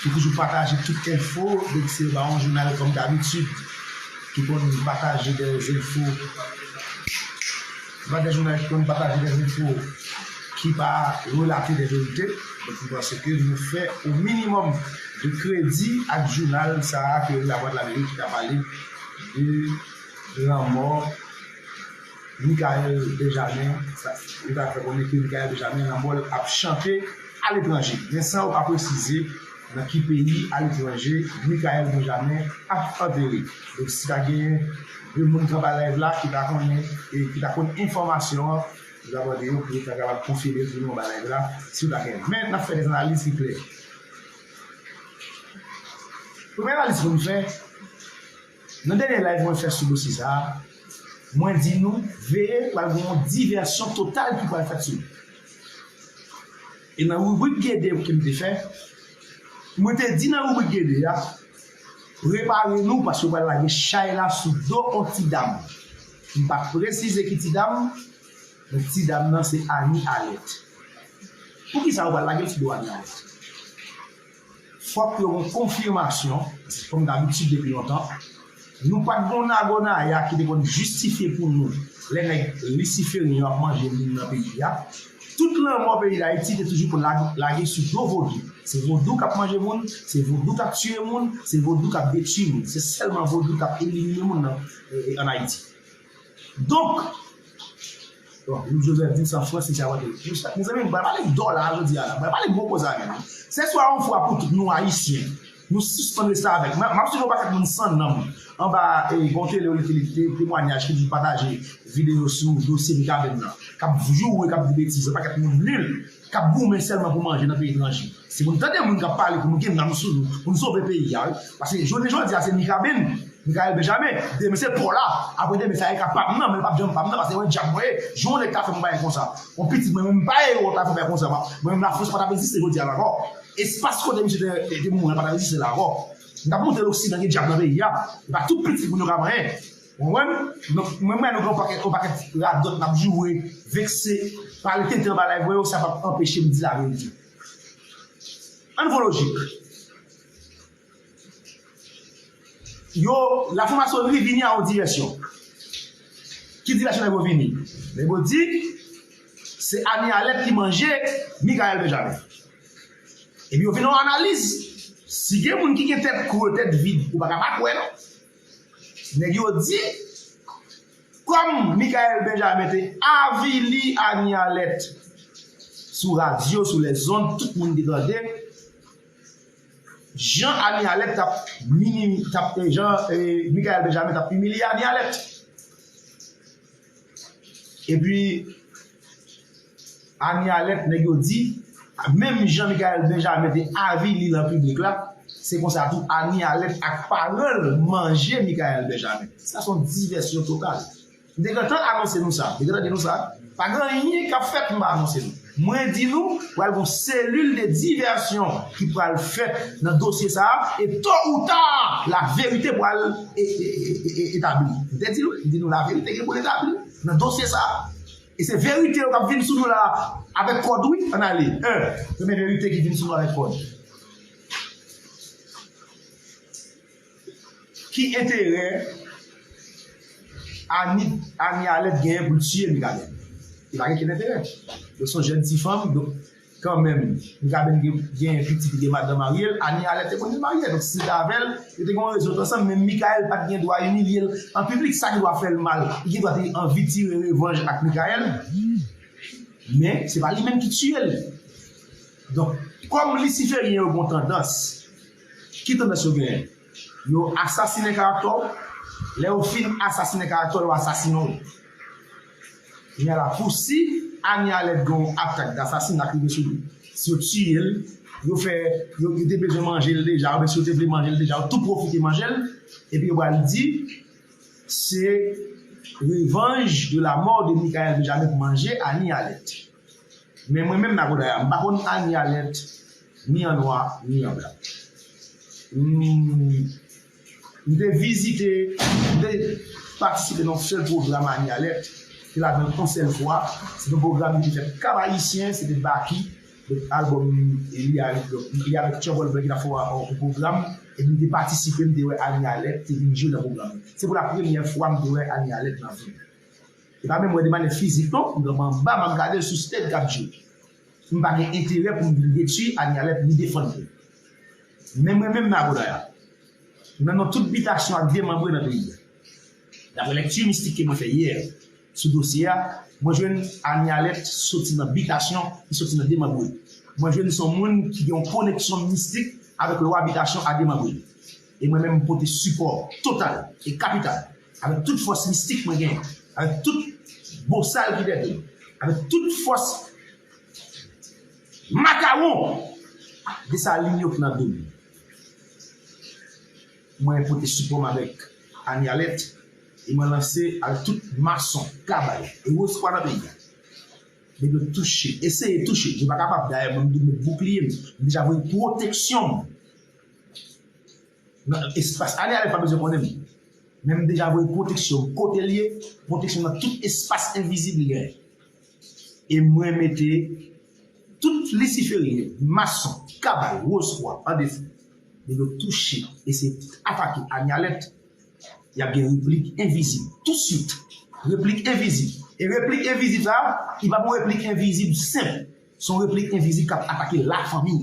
Ki toujou pataje tout enfo depi se ba yon jounal kòm dabitid ki konn pataje dè zenfo se pa dè jounal ki konn pataje dè zenfo ki pa relate dè verite donk nou panse ke nou fè yon minimòm de kredi ak jounal sa a ki rele Lavwadlamerik ki ta pale de lanmò Mickaël Benjamin yo ta fè konnen ke Mickaël Benjamin lanmò l ap chante aletranje men san yo pa presize nan ki peyi aletranje Mickaël Benjamin ap antere donk si ta gen 2 moun ki anba live la ki ta konnen e ki ta konn enfòmasyon an nou ta mande yo pou yo ta kapab konfime l pou nou anba live la si yo ta gen l men n ap fè kèk analiz ki klè premye analiz pou m fè. Nan dènye live mwen fè sou dosye sa a, mwen di nou veye pral gen yon divèsyon total ki pral fèt sou li. E nan ribrik Gede ke m te fè, mwen te di nan ribrik Gede a, prepare nou paske yo pral lage chay la sou do yon ti dam. M pa presize ki ti dam, men ti dam nan se Annie Alerte. Poukisa yo pral lage l sou do Annie Alerte? Fòk yo gon konfimasyon, se kòm dabitid depi lontan, nou pat gon nagonaya ki te konn jistifye pou nou lè nèg lisiferyen yo ap manje moun nan peyi a, tout lanmò peyi dayiti te toujou konn lage sou do vodou, se vodou kap manje moun, se vodou kap tiye moun, se vodou kap detui moun, se sèlman vodou kap elimine moun an ayiti. Donk, bon, Louis Joseph di san Frans li ta pral gen plis chak. Mezanmi, m pral pale dòla jodi a la. M pral pale gwo koze avè nou. Se swa yon fwa pou tout nou Ayisyen, nou sispann restavèk. M ap swiv yon pakèt moun san nanm anba Gonte Leoni Filip te temwanyaj ki di pataje videyo sou dosye Mikaben nan k ap joure, k ap di betiz, yon pakèt moun nil. kap goumen sèlman pou manje nan peyi etranje si moun tande moun kap pale pou nou gen nanm sou nou pou nou sove peyi a wi paske jounen jodi a se mikaben Mikael Benjamin demen se paw la apre demen sa e ka pam nan men li pap janm pam nan paske yon djab mwen ye jou yon nèg ta fèm yon bagay konsa yon pitit mwen menm m pa ye yo ta fèm yon bagay konsa mwen menm lafrans patap egziste jodi a la ankò espas kote misye te mouri an patap egziste la ankò m tap monte loksidan gen djab nan peyi a e pa tout pitit moun yo ka manyen. Ou konprann? Donk mwen wè nou gen yon pakèt yon pakèt radòt nap joure, vekse, pale tenten anba live mwen yo sa pap anpeche m di laverite. Ann pran lojik. Yo, lafwamasonri vini a yon divèsyon. Ki divèsyon nèg yo vini? Nèg yo di se Amy Alert ki manje Mikael Benjamin. Epi yo vin nan yon analiz. Si gen moun ki gen tèt kre, tèt vid, ou pa ka pa kwè non. Nèg yo di, kòm Michaelle Benjamin te avili Anie Alert sou radyo, sou lèzond, tout moun te tande, jan Anie Alert t ap, jan Michaelle Benjamin t ap imilye Anie Alert. Epi Annie Alerte nèg yo di, menm jan Michaelle Benjamin te avili nan piblik la, se konsa tou Annie Alerte ak paran l manje Michaelle Benjamin. Sa se yon divèsyon total. M te gentan anonse nou sa. M te gentan di nou sa. Pa gen anyen k ap fèt m pa anonse nou. Mwen di nou, pral gon selil de divèsyon ki pral fèt nan dosye sa a, e to ou ta, la verite pral etabli. M te di nou, m di nou la verite gen pou l etabli nan dosye sa a. E se verite yo k ap vin sou nou la a avèk kòd wi, ann ale 1. Premye verite ki vin sou nou avèk kòd. Ki enterè Annik Annie Alèt genyen pou l tiye Mikaben? Li pa gen ken enterè. Yo son jèn ti fanm donk kanmenm Mikaben gen pitit li gen madan marye l, Annie Alèt te konn marye donk si l te avè l yo te gen yon rezon yo t ansanm men Mikael pa t gen dwa imilye l an piblik sa gen dwa fè l mal. Li gen dwa te anvi tire revanj ak Mikael men se pa li menm ki tiye l. Donk kòm lisiferyen yo gen yon tandans. Ki tandans yo genyen? Yo asasinen karaktè w, lè yo fin asasinen karaktè w yo asasinen w. Kounya la pou si Anie Alerte gen yon atak dasasinat ki rive sou li, si yo tiye l, yo fè, yo te bezwen manje l deja oubyen si yo te vle manje l deja yo tou pwofite manje l epi yo pral di se revanj de la mort de Mickaël Benjamin pou manje Anie Alerte. Men mwen menm Nakoda ya, m pa konn ani a lèt, ni an nwa, ni an blan. M te vizite, m te patisipe nan yon sèl pwogram ani a lèt, m te ladan l yon sèl fwa. Se te yon pwogram ki te fèt Kab Ayisyen, se te Baky, donk albòm li a, li avèk Tchèb Olbè ki t ap fè yon pwogram. Epi m te patisipe, m te wè ani a lèt te vin jwe nan pwogram nan. Se pou la premyè fwa m te wè ani a lèt nan vi m. E pa menm wè de manyè fizik non, m pran m anba m ap gade l sou stage k ap jwe. M pa gen enterè pou m vin detui Anialet ni defann li. Men mwen menm Nagonaia, nan non tout bitasyon ak demanbre nan peyi a, daprè lèkti mistik ke mwen fè yè sou dosye a, mwen jwenn Anialet soti nan bitasyon, li soti nan demanbre. Mwen jwenn li se yon moun ki gen yon koneksyon mistik avèk lwa bitasyon a demanbre. E mwen menm m pote sipò total e kapital. Avèk tout fòs mistik mwen genyen, avèk tout bosal ki dèyè m, avèk tout fòs makawon Desalin yo ki nan do m, mwen pote sipò m avèk Amialèt e mwen lanse avèk tout mason, kabaye e wozkwa nan peyi a. Mwen dwe touche, eseye touche, je pa kapab, dayè mwen m dwe met boukliye m, m deja voye pwoteksyon m. Nan espas ale ale pa bezwen konnen m men m deja voye pwoteksyon m kote l ye pwoteksyon nan tout espas envizib li genyen e mwen mete tout lisiferyen mason kabal wozkwa an defi lè yo touche eseye atake ale ale y ap gen replik envizib tousuit replik envizib e replik envizib sa a li pa p yon replik envizib senp s on replik envizib k ap atake lafanmi w.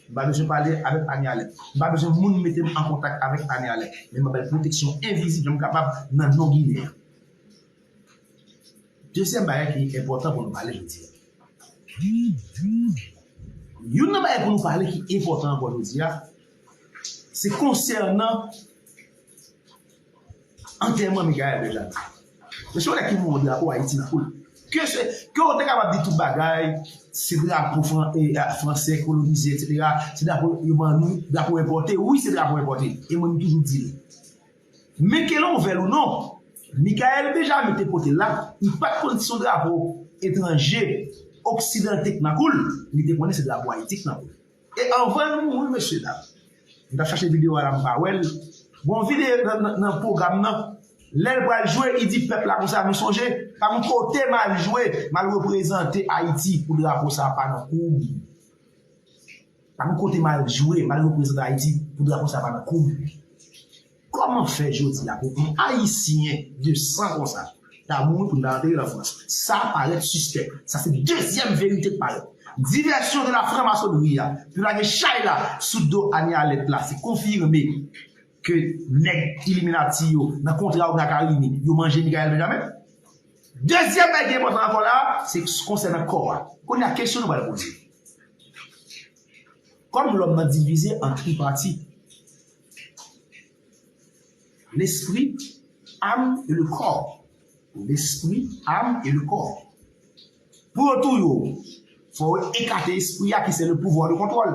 M pa bezwen pale avèk Aniale. M pa bezwen moun mete m an kontak avèk Aniale. Men m ap bay pwoteksyon envizib jan m kapab nan non Ginen an. Dezyèm bagay ki enpòtan pou nou pale jodi a. Youn nan bagay pou nou pale ki enpòtan ankò jodi a, se konsènan. Antèman Michaelle Bellamy. Mwen se yon nèg ki voye drapo Ayiti nan koul. Ke se, ke w te kapab di tout bagay, se drapo fran, e a, franse kolonize eksetera, se drapo yo ban nou, drapo enpòte, wi se drapo enpòte. E mwen m toujou di l. Men ke lè w vle l ou non, Michaelle Bellamy te pote l la, li pa t konn si se yon drapo etranje, oksidan ki te nan kou l, li te konnen se drapo Ayiti ki te nan kou l. E anvan l mouri mesye dam. M tap chache video a la m pa wè l. Bon video nan program nan lè l pral jwe li di pèp la konsa nou sonje pa m kote m al jwe m al reprezante ayiti pou drapo sa pa nan kou m pa m kote m al jwe m al reprezante ayiti pou drapo sa pa nan kou m. Koman fè jodi a pou yon ayisyen de san konsa ta mouri pou li pa antere l an Frans? Sa parèt sispèk. Sa se dezyèm verite k parèt. Divèsyon de la franmasonri a pou lage chay la sou do Annie Alerte la se konfime ke nèg iliminati yo nan kontra yo gen ak Arimi yo manje Mickaël Benjamin. Dezyèm bagay ki enpòtan ankò la a se konsènan kò a. Kounye a kesyon nou pral poze. Kòm lòm nan divize an tripati. L'esprit, âme et le corps L'esprit, âme et le corps Pou yo touye w, fò yo ekate espri a ki se le pouvwa de kontwòl.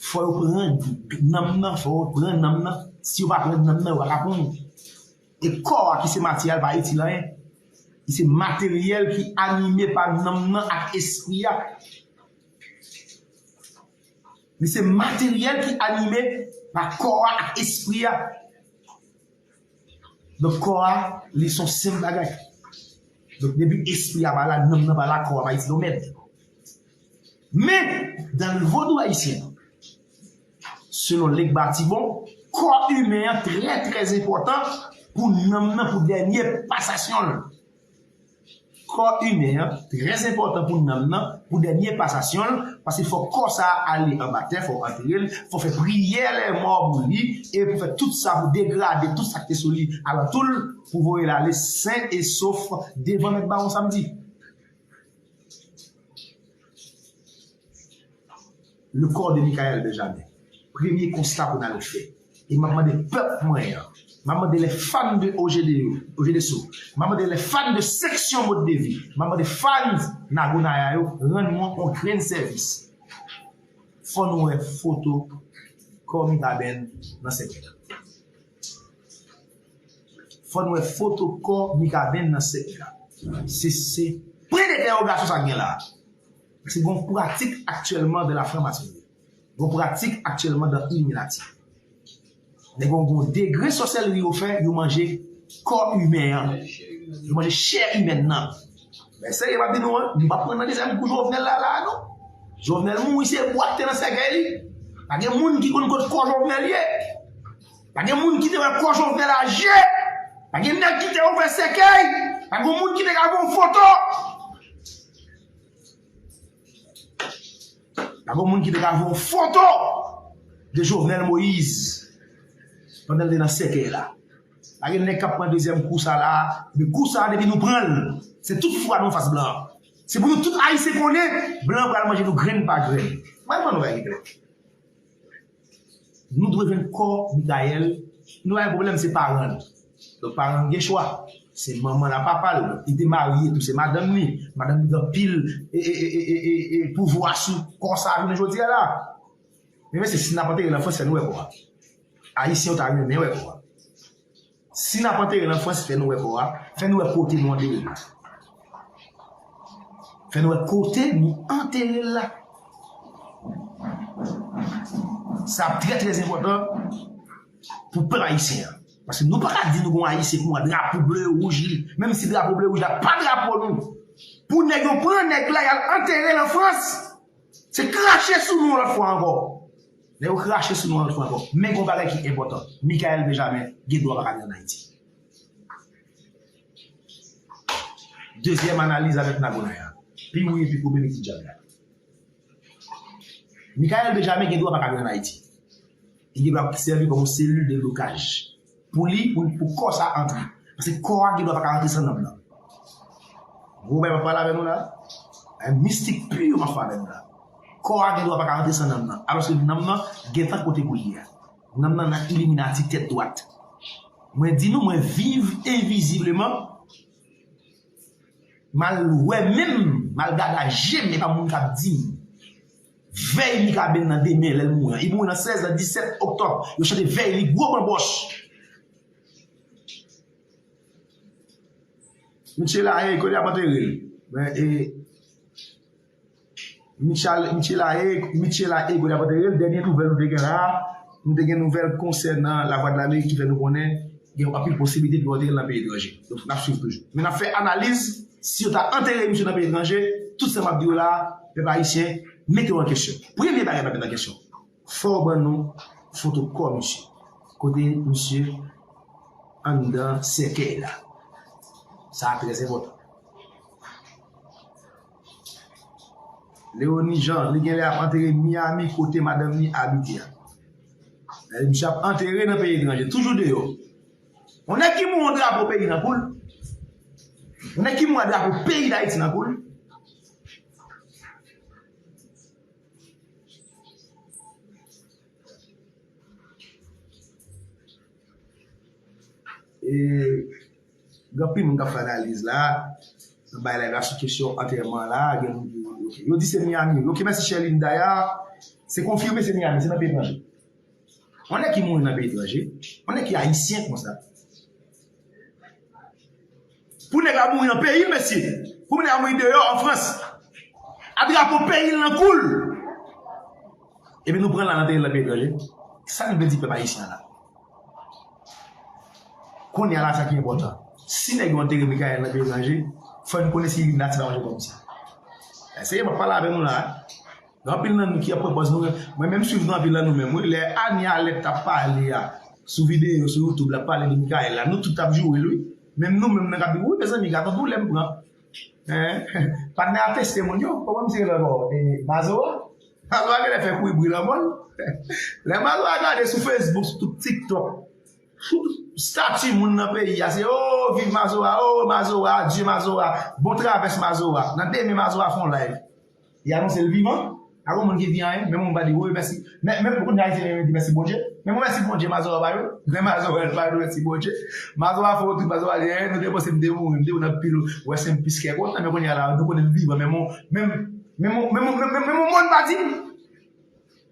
Fò yo pran nanm nan, fò yo pran nanm nan. Si yo pa pran nanm nan, yo pa ka pran w. E kò a ki se matyè a l pa itil anyen. Li se materyèl ki anime pa nanm nan ak espri a. Li se materyèl ki anime pa kò a ak espri a. Donk kò a, li son senp bagay. Donk depi espri a pa la, nanm nan pa la, kò a pa itil yon mèd. Men, dan l vodou ayisyen, selon Legba Tibon, kò imen an trè trè enpòtan pou nanm nan, pou dènye pasasyon l. Kò imen an trè enpòtan pou nanm nan pou dènye pasasyon l paske fòk kò sa ale anba tè fòk antere l fòk fè priyè lèmò pou li e pou fè tout sa pou degrade tout sa k te sou li alantou l pou voye l ale sen e sof devan mèt bawon samdi. Le corps de Michaelle Benjamin premye konsta pou nal fè e map mande pèp mwen an map mande lè fan de OGD yo OGD so map mande lè fan de seksyon mode de vi map mande fans Nago Naya yo rann mwen on grenn sèvis fò nou wè foto kò Mirabel nan sèkèy la fò nou wè foto kò Mikaben nan sèkèy la se se pwen de dèwogasyon sa gen la. Paske gon pratik aktyèlman dan la franmasonri. Gon pratik aktyèlman dan iliminati. Nèg yo gon degre sòsèlri yo fè, yo manje kò imen an. Yo manje chè imèn nan. Mwen serye map di nou an, nou pa pran nan dezyèm kou Jovenel la la a non. Jovenel mouri se bwa ki te nan sèkèy li. Pa gen moun ki konn kot kò Jovenel ye. Pa gen moun ki te wè kò Jovenel a je. Pa gen nèg ki te ouvè sèkèy. Pa gen moun ki te ka pran foto. A gon moun ki te ka voye yon foto de Jovenel Moïse pandan l te nan sèkèy la. Pa gen nèg k ap pran dezyèm kou sa la. Men kou sa depi nou pran l, se tout fwa nou anfas blan. Se pou nou tout Ayisyen konnen blan pral manje nou grenn pa grenn. Mwen ban nou bagay ki klè. Nou dwe jwenn kò Mikayèl ki nou pa gen pwoblèm se paran li. Donk paran li gen chwa. Se manman l a papa l. Li te marye tou se madanm li. Madanm li gen anpil e pouvwa sou kò sa jounen jodi a la. Men mesye si n ap antere l an franse fè n wè kò a. Ayisyen yo ta renmen wè kò a. Si nap antere nan frans fè nou wè kò a, fè nou wè kote nou antere l. Fè nou wè kote nou antere l la. Sa ap trè trè enpòtan pou pèp ayisyen an. Paske nou pa ka di nou gon ayisyen pou mwa drapo ble wouj li. Menm si drapo ble wouj la pa drapo nou. Pou nèg yo pran nèg la yal antere l an frans. Se krache sou nou yon lòt fwa ankò. Lè yo krache sou nou yon lòt fwa ankò. Men gon bagay ki enpòtan, Mickaël Benjamin gen dwa pa ka vin an Ayiti. Dezyèm analiz avèk Nagonay a. Pi wouye pi koupe mete djab la. Mickaël Benjamin gen dwa pa ka vin an Ayiti. Li gen dwa sèvi kòm yon selil de blokaj. Pou li pou pou kò sa antre. Paske kò a gen dwa pa ka antre san nanm nan. Gwo bagay map pale avè nou la. Bagay mistik pur map fè avè nou la. Kò a gen dwa pa ka antre san nanm nan. Alòske nanm nan gentan kote pou li a. Nanm nan nan iliminati tèt dwat. Mwen di nou mwen viv envizibleman. Mal wè menm, mal gad a jem epa moun kap dim. Vèy Mikaben nan demen lè l mouri an. Li mouri nan 16 nan 17 oktòb. Yo chante vèy li gwo banbòch. Miche la hey kote y ap antere l? Men e Miche la hey kote y ap antere l? Dènye nouvèl nou te gen la a. Nou te gen nouvèl konsènan Lavwadlamerik ki fè nou konnen gen yon anpil posibilite pou yo antere l nan peyi etranje. Donk, n ap swiv toujou. Men n ap fè analiz, si yo ta antere misye nan peyi etranje, tout sa m ap di yo la a, pèp ayisyen, mete yo an kesyon. Premye bagay n ap mete an kesyon, fò w ban nou foto kò misye, kote misye anndan sèkèy la. Sa a trèzenpòtan. Leoni Jean, li genlè ap antere Miami kote madanm li abite a. Lè misye ap antere nan peyi etranje, toujou deyò. On nèg ki mouri drapo peyi nan koul. On nèg ki mouri a drapo peyi Dayiti nan koul. E... Gen anpil moun kap fè analiz la nan bay like la sou kesyon antèman la gen moun ki di ok yo di se Miami ok mèsi Sherline daya se konfime se Miami se nan peyi etranje yon nèg ki mouri nan peyi etranje yon nèg ki ayisyen konsa pou nèg la mouri nan peyil mesye pou nèg la mouri deyò an frans a drapo peyil nan koul epi nou pran la anterel nan peyi etranje kisa nou vle di pèp ayisyen la. Kounye a la sa ki enpòtan. Si nèg yo antere Mikael nan Belanje, fò n konnen si li nati nan yon zòn konsa. Eseye m ap pale avè nou la. Gen anpil nan nou ki ap pran pòz nou. Mwen menm swiv nou anpil nan nou menm wi. Lè Anie Alec t ap pale a sou videyo sou YouTube l ap pale de Mikael la, nou tout t ap joure l wi. Menm nou menm nan k ap di wi mezanmi gad on doulè m pran. Patnè ap teste moun yo. Kòman misye rele ankò? Mazo a? Mazo a genlè fè kouri bri lanmò l. Lè Mazo a gade sou Facebook, sou tout TikTok, tout stati moun nan peyi a se oo viv Mazo a, oo Mazo a, adye Mazo a, bon travès Mazo a. Nan demen Mazo a fè yon live. Li anonse l vivan. Pa gen yon moun ki di anyen. Menm moun pa di, Woy mèsi. Men, menm kounya Ayisyen renmen di mèsi Bondye. Men bon mèsi Bondye Mazora ba yo. Men Mazora ba yo mèsi Bondye. Mazora fè wout. Mazora di, Ee, nou te panse m te mouri. M te wè nan pil wè sen m plis kè kontan. Men kounya la, nou konnen m vivan. Menm yon, menm yon, menm yon moun pa di m.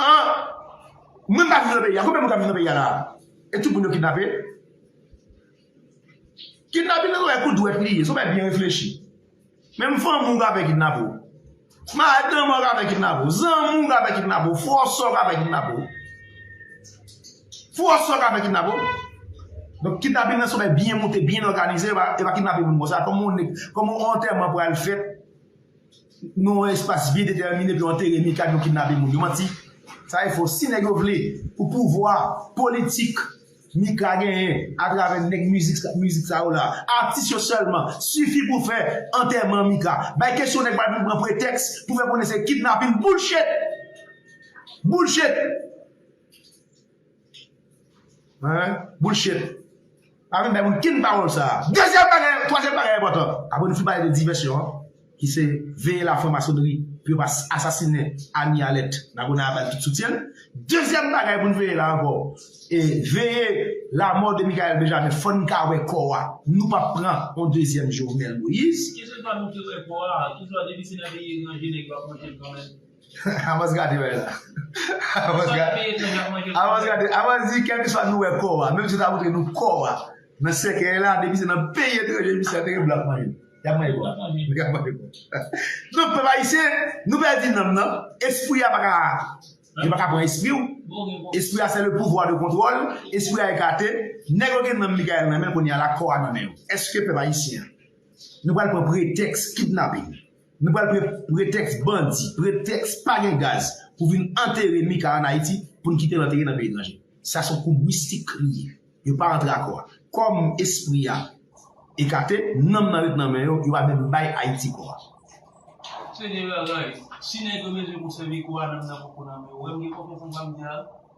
An Moun pa viv nan peyi a konbyen Moun kap viv nan peyi a la e tout Moun yo kidnape kidnapin nan son bagay kou dwèt li ye son bagay byen reflechi menm fanmi w ka fè kidnape w madanm an ka fè kidnape w zanmi w ka fè kidnape w frè w sè w ka fè kidnape w frè w sè w ka fè kidnape w donk kidnapin nan son bagay byen moute byen òganize yo pa kidnape Moun konsa kòman yon antèman pral fèt Nou yon espas byen detèmine pou yo antere Mika nou kidnape moun yo manti sa e fo si nèg yo vle pou pouvwa politik Mika genyen atravè nèg mizik sa yo la atis yo sèlman sifi pou fè antèman Mika bay kesyon nèg pa vin pran pretèks pou fè konnen se kidnapin boulchet boulchet. Bullshit. Pa vin bay moun kin pawòl sa a. Dezyèm bagay, twazyèm bagay enpòtan, apre nou fin pale de divèsyon an, ki se veye la franmasonnri pou yo pa asasinen Anie Alèt nan Gonayiv avèk tout soutyen l. Dezyèm bagay pou n veye la ankò, e veye lamò de Mikael Benjamin. Fò n ka wè kò a. Nou p ap pran yon dezyèm Jovenel Moïse. Kesyon sa nou te wè kò a. Ki swa depi se nan peyi etranje nèg yo ap manje l kanmenm. Avans gade bagay la. Avans gade. Avans gade. Avans di kèm ki swa nou wè kò a. Menm si ta moutre nou kò a. Nan sèkè la. Depi se nan peyi etranje. Misye a teke blan manje. Yap manje kò. Yap manje kò. Donk pèp ayisyen. Nou pèdi nanm nan. Espri a paka. Yo paka pran espri ou. Espri a se le pouvwa de kontwòl. Espri a ekate. Nèg yo gen nanm Mikael nan men. Kounye a la kò a nan men yo. Eske pèp ayisyen. Nou pral pran pretèks kidnaping. Nou pral pran pretèks bandi, pretèks pa gen gaz pou vin antere Mika an Ayiti pou n kite l antere nan peyi etranje. Sa s on koub mistik li ye. Yo pa antre akò a. Kòm espri a ekate, nanm nan ret nan men yo, yo pa menm bay Ayiti kò a. Senyè bagay, si nèg yo bezwen konsève kò a, nanm nan poko nan men yo. Wè m gen konfyans nan sa m di a?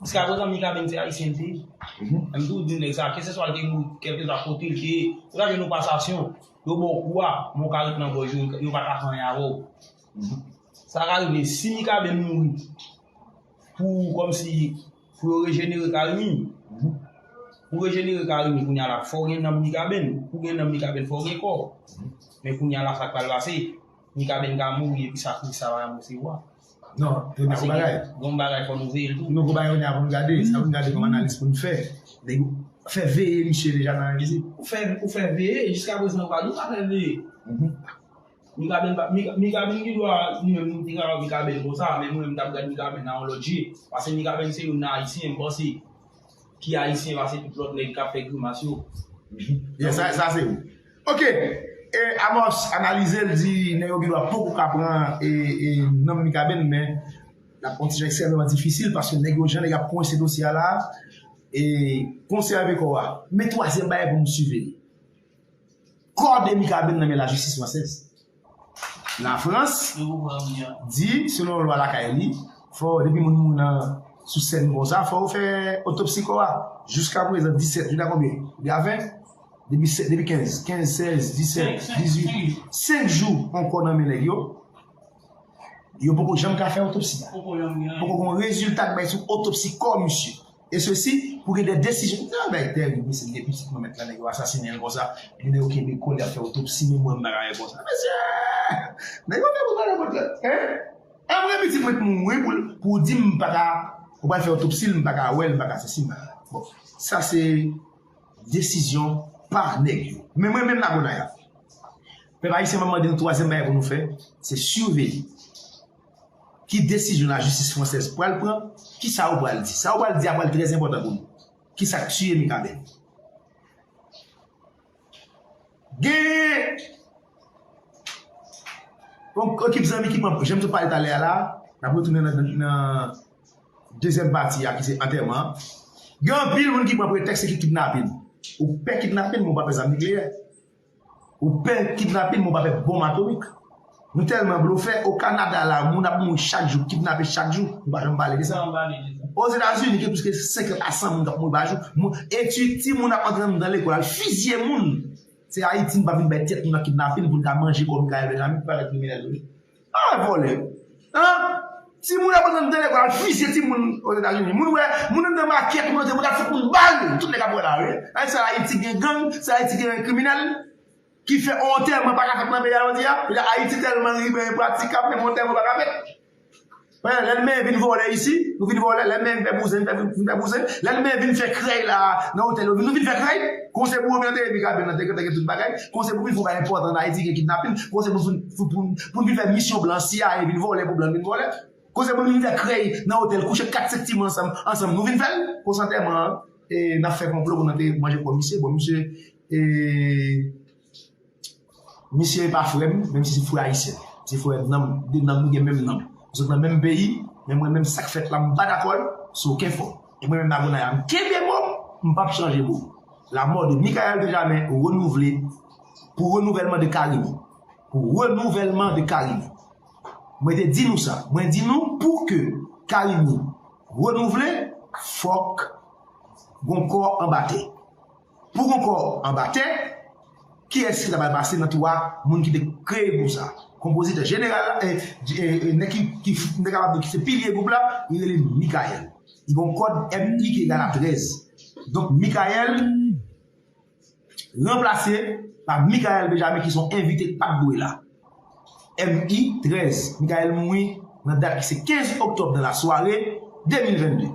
Jiska prezan Mika Ben se Ayisyen tou. Mwen toujou di nèg sa, keseswa l te gwo, kèlkeswa kote l te ye, ou ta jwenn yon pasasyon, yo ba w kou a, men w ka ret nan gòj yo, yo pa ka fè anyen avè w. Sa ka rive, si Mika Ben mouri pou kòmsi, pou yo rejenere Carimi, pou rejenere Carimi kounye a la, fò w gen nanm Mika Ben, pou w gen nanm Mika Ben fò w gen kò. Men kounye a la sa k pral pase, Mika Ben ka mouri epi sakrifis sa pa janm resevwa. Non, pou nou fè bagay. Bon bagay pou nou veye tou. Nou pou bagay ou nan pou nou gade. Sa pou nou gade pou nou analize pou nou fè. Dèk ou fè veye misye deja nan analize. Ou fè ou fè veye. Jiska pou zan ou pa di ou pa fè veye. Mikaben pa mikaben ki dwa di mwen moun tika ou mikaben pou sa. Men mwen mtap gade mikaben nan ou lòt je. Pase mikaben se yon nan ayisyen mwen se. Ki ayisyen pase tout lòt nèk kap fè grimas yo. Sa se ou. Ok e Amos analize l di nèg yo gendwa poko ka pran nom Mikaben men lap pran ti jan ekstrèmeman difisil paske nèg yo jan nèg yo ap kwense dosye a la e konsève kò a. Men twazyèm bagay pou nou siveye kò de Mikaben nan men lajistis fransèz. Lafrans di selon lwa lakay li, fò depi moun mouri nan sou sèn konsa, fò yo fè otopsi kò a. Jiskaprezan 17, jounen konbyen? Li a 20? Depi 16, 15, 16, 17, 18, 5 jou yon kò nan men nèg yo, yo poko janm ka fè otopsi a. Poko gen yon rezilta k bay sou otopsi kò misye. E sesi pou gen de desizyon. Nan bay tè gou mesye li gen pitit mwen mèt la nèg yo asasinenl konsa epi nèg yo kenbe kòl yap fè otopsi menm mwen m pa ka wè konsa mesye nèg yo fè moun pale vant lòt hein anmwe pitit mwen t mouri pou pou w dim m pa ka ou pral fè otopsil m pa ka wèl m pa ka sesi m pa ka wèl bon sa se desizyon pa nèg yo men mwen menm Nago Naya pèp ayisyen map mande nou twazyèm bagay pou nou fè se siveye Ki desizyon lajistis fransèz pral pran? Kisa ou pral di? Sa ou pral di a pral trè enpòtan pou nou. Kisa k tiye Mikaben? Gen yon ekip zanmi ki pran, jan m te pale talè a la, n ap retounen nan dezyèm pati a ki se antèman an. Gen anpil moun ki pran pretèks se ki kidnapin. Ou pè kidnapin men ou pa pè zam nikleyè. Ou pè kidnapin men w pa pè bonm atomik. Nou tèlman blofè, o Kanada la moun ap mouri chak jou, kidnape chak jou, nou pa janm pale de sa. Ozetazini gen plis ke 50 a 100 moun k ap mouri pa jou. Moun, etid, timoun ap antre anndan lekòl al fizye moun. Se Ayiti nou pa vin bay tèt nou nan kidnapin pou n ka manje kò nou ka elve zanmi, nou pa vin kriminèl vre. Ala vòlè an Timoun ap antre nan lekòl al fizye timoun ozetazini moun wè moun antre nan makèt moun antre moun ta fout moun bal tout nèg ap wè la wi epi se ayiti gen gang se ayiti gen kriminèl kifè yon antèman paka fèt nan peyi a jodia ayiti tèlman libe enpratikab menm yon antèman paka fèt. Lè lnmen vin vole isi, nou vin vole, lè lnmen vin fè bouzen, nou vin fè bouzen, lè lnmen vin fè krèy la a nan otèl yo, nou vin fè krèy. Kon se pou oblante epi ka vin nan dekrè gen tout bagay, kon se pou vin fon bagay enpòtan an Ayiti gen kidnapin, kon se pou vin fou pou nou vin fè misyon blan CIA vin vole pou blan vin vole, kon se pou nou vin fè krèy nan otèl kouche 4 sèk ti moun ansanm ansanm nou vin fè l. Konsantèman an e n ap fè konplo pou n ante manje kò misye, bon misye e. Misye pa frè m, menm si se frè ayisyen. Se frè m nanm, de nanm nou gen menm nanm. Nou sot nan menm peyi, men mwen menm sa k fèt la m pa dakò l sou okenn fòm. E mwen menm Magonay a m kenbe mo m, m p ap chanje mo m. La mort de Mickaël Benjamin renouvle pou renouvèlman de Carimi. Pou renouvèlman de Carimi. Mwen te di nou sa. Mwen di nou pou ke Carimi renouvle, fòk gon kò anba tè. Pou gon kò anba tè, kiyès ki ta pral pase nan twa moun ki te kreye gwoup sa? Konpozitè jeneral la, nèg ki kapab di ki se pilye gwoup la, li rele Mikayèl. Li gen yon kòd MI=13. Donk Mikayèl ranplase pa Mikael Benjamin ki se yon envite ki pa t dwe la. MI=13. Mikayèl mouri nan dat ki se 15 oktòb nan lasware 2022.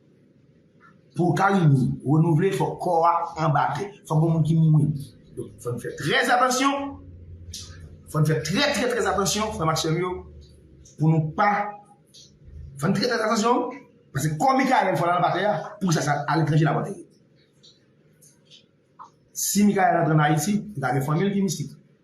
Pou Carimi renouvle fòk kò a anba tè. Fòk gen yon moun ki mouri. Donk fòn fè trè atansyon. Fòn fè trè trè trè atansyon frè m ak sè m yo pou nou pa fòn trè trè atansyon pase kò Mikael fò l al anba tè a pou sa sa aletranje la pou antere. Si Mikael antre an Ayiti li ka gen fanmi l ki mistik.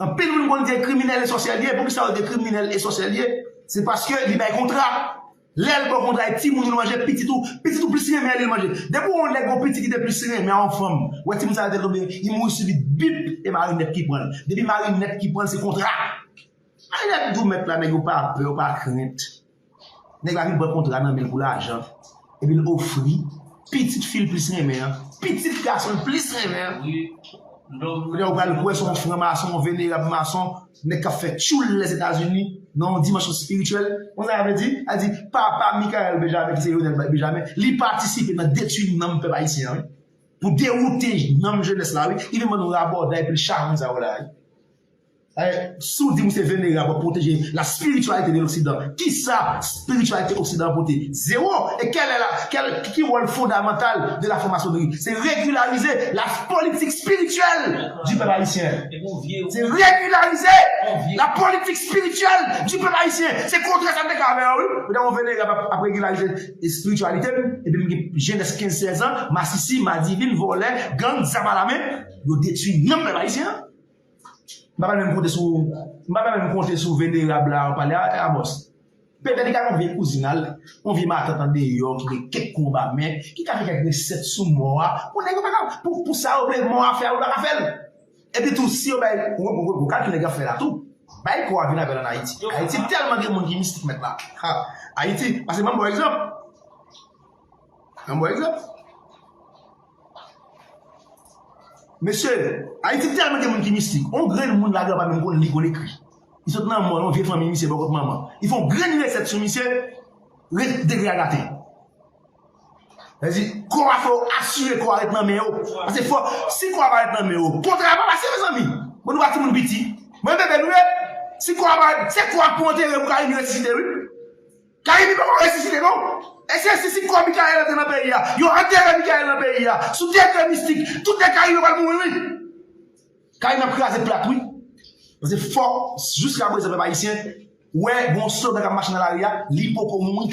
Anpil moun konn di kriminèl e sòsyè liye pou kisa yo di kriminèl e sòsyè liye se paske li bay kontra lèl baw kontra e timoun li manje pitit ou pitit ou plis renmen li manje depi ou wè yon nèg yon pitit ki te plis renmen yon fanm wè timoun sa yo te tonbe li mouri sibit bip e mari nèt ki pranl depi mari nèt ki pranl se kontra marinèt dou mèt la nèg yo pa pè yo pa krent Nèg la vin pran kontra nan men l pou lajan epi l ofri pitit fi l plis renmen an, pitit gason l plis renmen an. Kounye a ou pral kwè se yon fran mason, yon venerab mason, nèg k ap fè tchoul Lèzetazini nan yon dimansyon espirityèl. Ou konn sa sa vle di? Sa vle di papa Mickaël Benjamin ki se Lionel Benjamin, li patisipe nan detwi nanm pèp ayisyen an wi, pou dewoute nanm jenès la wi, li vin ban nou rabòday pil chawony sa yo la wi. Si w di ou se venerab, w ap pwoteje la spirityalite de loksidan. Kisa spirityalite oksidan an pote? Zewo! E kèl è la, kèl, ki wòl fondamantal de la franmasonri? Se regilarize la politik spirityèl di pèp ayisyen. Se regilarize la politik spirityèl di pèp ayisyen. Se kontrè sa m te ka avè yo wi. Kounye a yon venerab ap regilarize espirityalite m, epi m gen jenès kenz sèz an, masisi, madivin, vòlè, gang, zam alamen, yo detwi nanm pèp ayisyen an. M pa pral menm konte sou M pa pral menm konte sou venerab la wap pale a Abòs Petèt li ka gen yon vye kouzin a l Yon vye matant andeyò ki gen kèk kou anba men Ki ka gen kèk resèt sou mò a Pou nèg yo pa ka Pou pou sa yo vle mò a fè a yo pa ka fè l Epi tou si yo bay Bon gad sa nèg yo ap fè la tou Bay kò a vin avè l ann Ayiti Ayiti tèlman gen moun ki mistik mèt la Ayiti Pase banm bon egzanp Yon bon egzanp. Mesye, Ayiti tèlman gen moun ki mistik, yon grenn moun ladan pa menm konn li konn ekri. Li sot nan mòn yon vye fanmi misye bò kot manman. Li fè yon grenn resèt sou misye, ret degre a gate. Sa di, kò a fò ou asire kò a ret nan men ou. Pase fò, si kò a pa ret nan men ou, kontra a pa pase mezanmi. Bon nou pa timoun piti. Bon e bebe nou ye. Si kò a pa ret, se kò a pou antere pou ka vin resisite wi. Carimi poko resisite non. Eske si si kò Mickaël antre nan peyi a, yo antere Mickaël nan peyi a, sou tè trè mistik, tout nèg Carimi yo pral mouri wi. Carimi ap kraze plat wi. Pase fò jiska prezan pèp ayisyen wè gon slogan kap mache nan lari a, li poko mouri.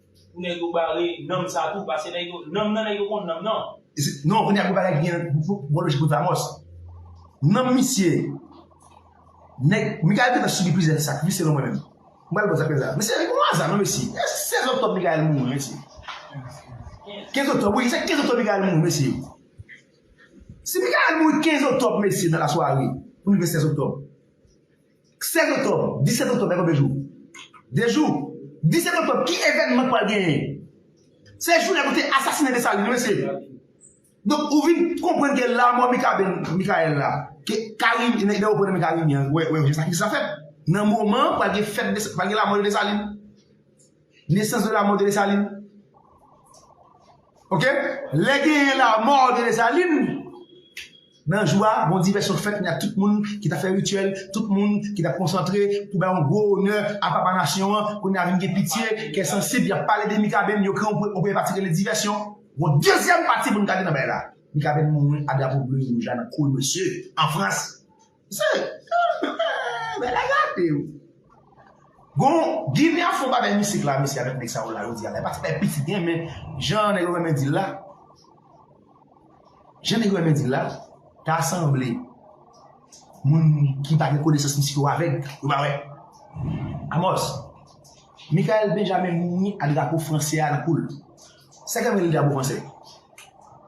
Pou nèg yo bare nanm sa tou pase nèg yo nanm nan nèg yo konn nanm nan. Non kounya pou bagay gen bon lojik pou Vamos nanm misye nèg Mikael gentan sibi plizyè sak wi selon mwen menm m pral pran zafè sa mesye se yon aza non mesye eske 16 oktòb Mikael mouri mesye 15 oktòb wi se 15 oktòb Mikael mouri mesye si Mikael mouri 15 oktòb mesye nan lasware pou rive 16 oktòb. 16 oktòb, 17 oktòb gen konbyen jou? 2 jou. 17 oktòb ki evènman k pral genyen? Se jou nèg yo te asasinen Desalin wi mesye. Donk ou vin konprann ke lamò Mikaben-Mikayèl la, ke Karim, nèg yo pran nan men Karim yan, wè yon jan sakrifis la fèt. Nan moman an pral gen fèt Desalin, pral gen lamò de Desalin. Nesans de lamò de Desalin. Ok? Lè genyen lamò de Desalin, Nan jou a, bon divèsyon fèt ni ak tout moun ki t ap fè rityèl, tout moun ki t ap konsantre pou bay yon gwo onè a papa nasyon an, kounye a vin gen pitye, kè sansib, y ap pale de Mikaben, yo kreye yon premye pati ki rele divèsyon. Gon dezyèm pati pou n gade nan bagay la. Mikaben mouri a drapo ble e wouj la nan kou l mesye, an Frans. Se, eehh, bèl a gate wi. Gon, Ginen ap fè yon bagay mistik la mesye avèk nèg sa yo la jodi a la. E pa ti bagay pitit gen men, jan nèg yo renmen di l la. Jan nèg yo renmen di l la, ta sanble moun ki pa gen konesans mistik yo avèg, yo pa wè. Amòs, Mikael Benjamin mouri a drapo franse a nan kou l. Sa ki ap rele drapo franse?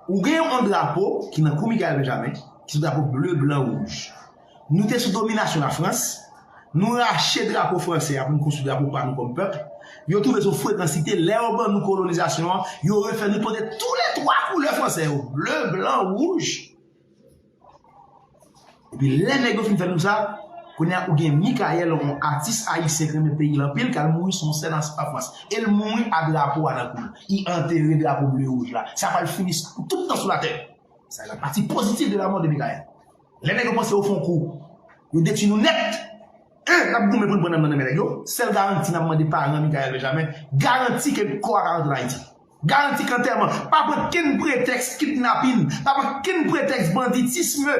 Ou gen yon drapo ki nan kou Mikael Benjamin, ki se drapo ble, blan, wouj. Nou te sou dominasyon Lafrans, nou rache drapo franse a pou nou konstwi drapo pa nou kòm pèp, yo twouve son frekansite, lè yo ban nou kolonizasyon an, yo refè nou pote tou le twa koulè franse yo, ble, blan, wouj. Epi lè nèg yo fin fè nou sa, kounye a ou gen Mikayèl, yon atis ayisyen ki renmen peyi l anpil, k al mouri sou yon sèn an Fwans. E l mouri a drapo a nan kou l. Y antere drapo ble e wouj la. Sa pral fini pou tout tan sou latè. Sa e la pati pozitif de la mò de Mikayèl. Lè nèg yo panse yo fon kou, yo detwi nou nèt! Hein! Nap goumen pou n pran nanm nan nan men nèg yo? Sèl garanti nap mande paran Mikael Benjamin, garanti ke kò a ka rantre Ayiti. Garanti k antèman pa pran kenn pretèks kidnapin, pa pran kenn pretèks banditisme,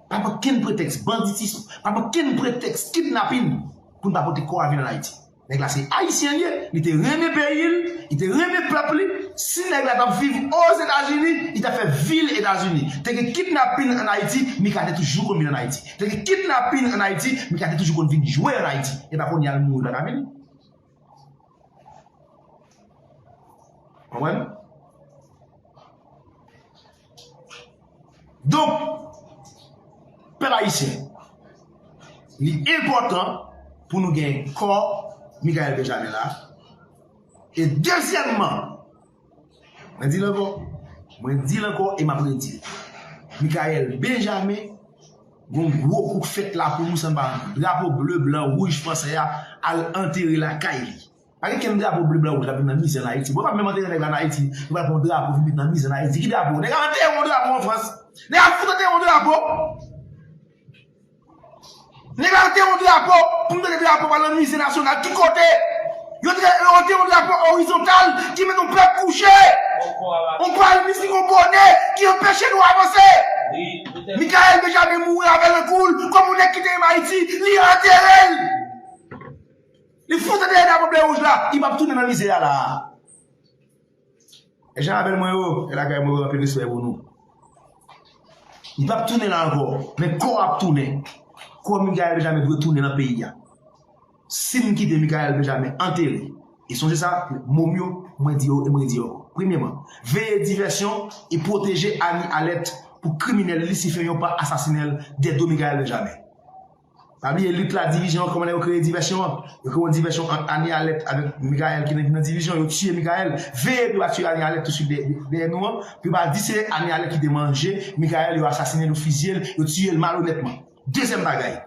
pa pran kenn pretèks banditism, pa pran kenn pretèks kidnapin pou n pa pote kò a vin an Ayiti. Nèg la se ayisyen li ye, li te renmen peyi l, li te renmen pèp li, si nèg la tap viv ozetazini li tap fè vil etazini, te gen kidnapin an ayiti mika te toujou konn vin an ayiti, te gen kidnapin an ayiti mika te toujou konn vin jwe an ayiti, epa kounye a l mouri paka vini. Konprann? Donk, pèp ayisyen, li enpòtan pou nou gen kò Mikael Benjamin la. E dezyèmman, mwen di l ankò, mwen di l ankò e m ap redi l. Mikael Benjamin, gon gwo kou k fèt la pou nou san pa drapo ble blan wouj fransè a al antere lakay li. Pa gen kenn drapo ble blan wouj kap vin nan mize an ayiti. Bon yo pap menm antere nèg la an ayiti, yo pral pran yon drapo vin met nan mize an ayiti. Ki drapo? Nèg ap antere yon drapo an frans. Nèg ap fout antere yon drapo. Nèg ap antere yon drapo pou nou mete drapo pa nan mize nasyonal. Ki kote? Yo antere yon drapo orizontal ki mete yon pèp kouche. Yon pal mis ki gon bone ki anpeche nou avanse. Mikael Benjamin mouri avèl nan koul. Kòm yon nèg ki te renmen ayiti, li antere l. Li fout ede ede pou blewouj la, li pap tounen nan mize a la a. E jan abèl mwen yo, e lakay mwen yo anpil respè pou nou. Li pap tounen la ankò, men kò ap tounen. Kò Mikael Benjamin dwe tounen nan peyi a. Si m kite Mikael Benjamin antere, e sonje sa, mo m yo, mwen di yo e m redi yo. Premyeman, veye divèsyon e pwoteje Annie Alerte pou kriminèl lisifè yon pa asasinel Dedo Mikael Benjamin. Pa bliye lit la divizyon an kòman nèg yo kreye divèsyon an yo kreye yon divèsyon ant Annie Alerte avèk Mickaël ki nan divizyon yo tiye Mickaël veye pou yo pa tiye Annie Alerte touswit dèyè nou an pou yo pa di se Annie Alerte ki te manje Mickaël yo asasinel yo fizyel yo tiyel malonètman dezyèm bagay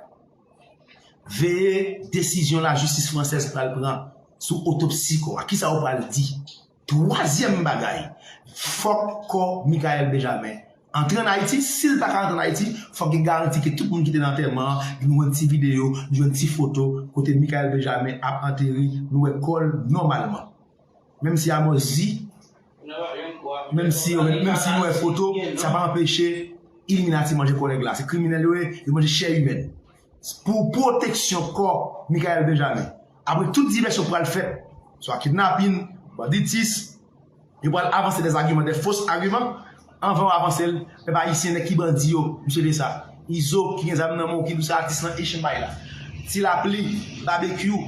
veye desizyon lajistis fransèz pral pran sou otopsi kò a kisa yo pral di. Twazyèm bagay, fòk kò Michaelle Benjamin antre an Ayiti. Si l pa ka antre an Ayiti, fòk gen garanti ke tout moun ki te nan antèman an, nou jwenn ti videyo, nou jwenn ti foto kote Michaelle Benjamin ap antere, nou wè kò l nòmalman. Menm si Amos di, menm si nou wè foto, sa pa anpeche Illuminati manje kò nèg la. Se kriminèl yo ye, yo manje chè imèn. pou pwoteksyon kò Michaelle Benjamin. Apre tout divèsyon pral fèt, swa kidnapin, banditis, yo pral avanse dè zagiman, dè fos agiman, anvan yo avanse l, pèp ayisyen nèg ki bandi yo, misye de sa. Izo ki gen zam nan men w ki di w se atis lan Echenn bay la. Ti lapli, babekyou,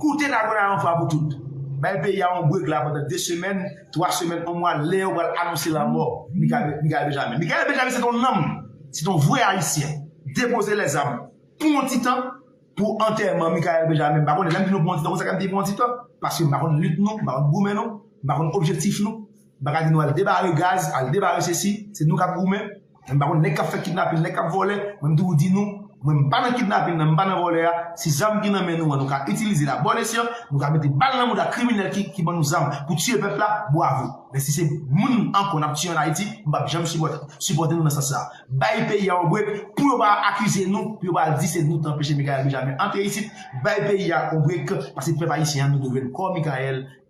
koute Nagoya yon fwa pou tout. Bay peyi a yon brek la pandan 2 semèn, 3 semèn, 1 mwa lè yo pral anonse lanmò Michaelle Benjamin. Michaelle Benjamin se t yon nanm! Se ton vre ayisyen depoze lèzam pou yon ti tan pou antèman Mickaël Benjamin m pa konnen lè m di nou pou yon ti tan konsa m di pou yon ti tan paske m pa konn lit nou m pa konn goumen nou m pa konn objektif nou m pa ka di nou al debare gaz al debare sesi se nou k ap goumen m pa konn nèg k ap fè kidnapin nèg k ap vòlè men m toujou di nou Mwen m pa nan kidnapin nan, m pa nan vòlè a, si zam ki nan men nou an nou ka itilize l a bon esyan, nou ka mete bal nan mouda kriminèl ki ban nou zam pou tiye pèp la, bwavo. Men si se moun ankò n ap tiye an Ayiti, m p ap janm sipòte nou nan sans sa. Bay peyi a yon brek pou yo pa akize nou, pou yo pa di se nou t anpeche Mickaël Benjamin antre isit, bay peyi a yon brek, pase pèp ayisyen an nou dwe jwenn kò Mickaël.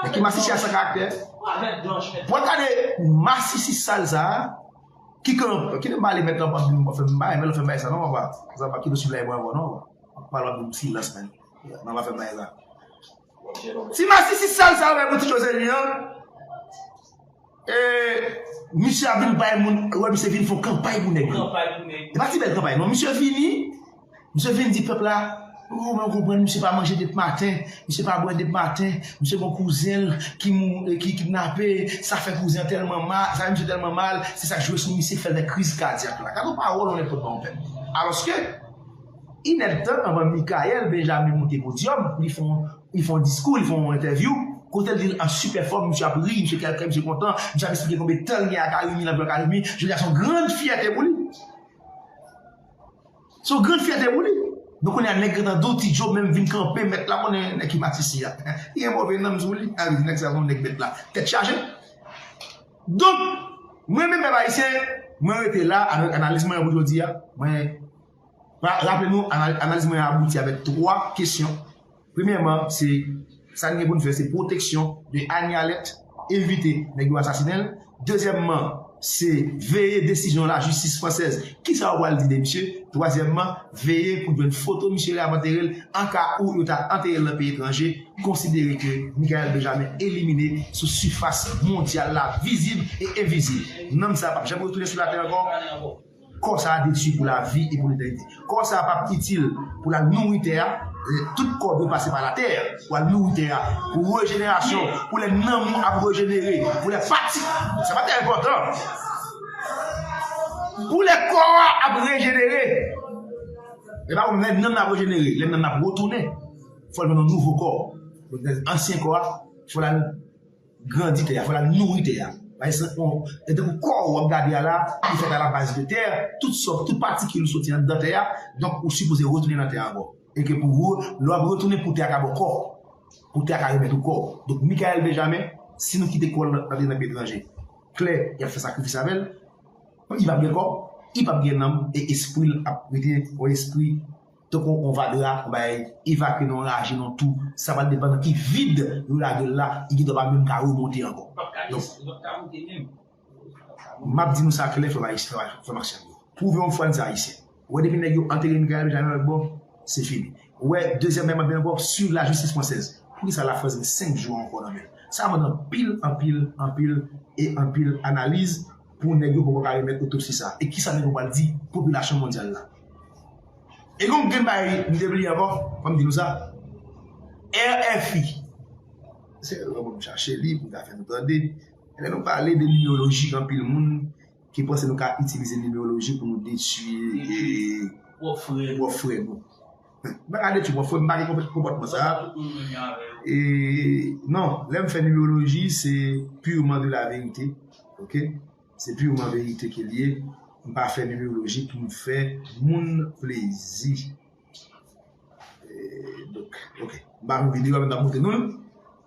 Men ki masisi a san karaktè. Pou al gade masisi sal sa a ki kan ki nan pale mèt lan pap di nou pa fè m bagay mèt lan fè bagay sa non papa sa pa kite sou blayi mwen ankò non papa pale m silans men nan pa fè bagay sa ti masisi sal sa a pou ti Joselin an Eeh misye ap vin bay moun wè misye vin fon kanpay pou nèg yo e pa ti bèl kanpay non misye vini misye vin di pèp la ooh mwen konprann misye pa manje dep maten misye pa bwè dep maten misye gon kouzenl ki mou ki kidnape sa fè kouzen an tèlman ma sa fè misye tèlman mal se sak jwe sou misye ki fèl fè kriz kadyak la gad yon pawòl yon nèg pot ba yon pèp alòske Inèd tan anvan Mickaël Benjamin moute podyòm, li fè yon diskou, li fè yon entèvyou, kote l di l an sipè fòm, misye ap ri, misye kèlkè, misye kontan, misye ap esplike konbe tan l gen a Carimi, l ap jwe a Carimi, jodi a se yon grann fyète pou li. Se yon grann fyète pou li. Donk kounye a nèg gentan di w Ti Djo menm vin kanpe mèt la konnen nèg ki pati isi a, li gen move nanm sou li, a li nèg sa se yon nèg mèt la, tèt chaje. Donk, mwen menm pèp ayisyen, mwen rete la avèk analiz mwen an pou jodi a, mwen Raple nou, analiz mwen an abouti avèk 3 kesyon. Premyèman, se sa n gen pou n fè se pwoteksyon de Anie Alert, evite nèg yo asasinen l. Dezyèmman, se veye desizyon lajistis fransèz, ki sa yo pral di de misye. Twazyèmman, veye pou n jwenn foto misye lè y ap antere l, an ka ou yo ta antere l nan peyi etranje, konsidere ke Mickaël Benjamin elimine sou sifas mondyal la vizib e envizib. Nanm sa a p ap janm retounen sou latè ankò. Kò sa a detui pou lavi e pou letènite. Kò sa a pa p itil pou l al nouri tè a. Tout kò dwe pase pa latè pou al nouri tè a, pou rejenerasyon, pou lè nanm ou ap rejenere, pou lè pati. Sa pa t enpòtan. Pou lè kò a ap rejenere. Lè pa konn lè nanm nan ap rejenere, lè nanm nan ap retounen, fò l jwenn yon nouvo kò. Ansyen kò a, fò l al. Grandi tè a, fò lal nouri tè a. Bay sant non. E tankou kò ou wap gade a la, li fèt a la baz de tè, tout sa, tout patikil ou soti anndan tè a, donk ou sipoze retounen nan tè a ankò. E ke pou ou, lè wap retounen pou tè a ka ba w kò, pou tè a ka remèt ou kò ou. Donk Mickaël Benjamin, si nou kite kò l antre nan peyi etranje, klè, yap fè sakrifis avè l, li pap gen kò, li pap gen nanm, e espri l ap rete yon espri. Tankou yon vag la, yon bagay evakye nan yon laji, nan yon tou, sa pral depann nan ki vid yo lage l la, li gendwa pa menm ka remonte ankò. M ap di nou sa klè, frè m ak sè m yo, pwouve yon fwa n se Ayisyen. Ou wè depi nèg yo antere Mikael Bejam yon lòt bò, se fini. Ou wè dezyèm nèg m ap di ankò, swiv lajistis fransèz. Poukisa Lafrans gen senk jou ankò nan men l? Sa mande anpil, anpil, anpil e anpil analiz. Pou nèg yo poko ka remèt otopsi sa e kisa nèg yo pral di popilasyon mondyal la. E gon grenn bagay m te bliye ankò, fòm di nou sa, RFI, se lè pou m chache li pou m ta fè nou tande, lè nou pale de nimeoloji anpil moun ki panse nou ka itilize nimeoloji pou nou detui pwòp frè nou. Mwen ka detwi mwen fò m pa gen konpòtman sa e non lèm fè numeroloji se purement de la vérité ok se purement vérité ke liye m pa fè numeroloji pou m fè moun plezi e donk ok m pa fè videyo avèm m tap montre nou l.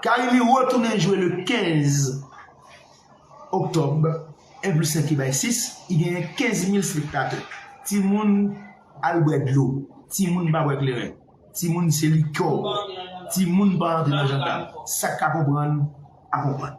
Karimi retounen jwe le 15 Oktòb, 1 plis 1 ki bay 6, i genyen 15 mil spektatè. Timoun al bwè dlo, timoun pa bwè kleren, timoun se likè w bwè, timoun pa antre nan jandam, sa k ka konprann a konprann.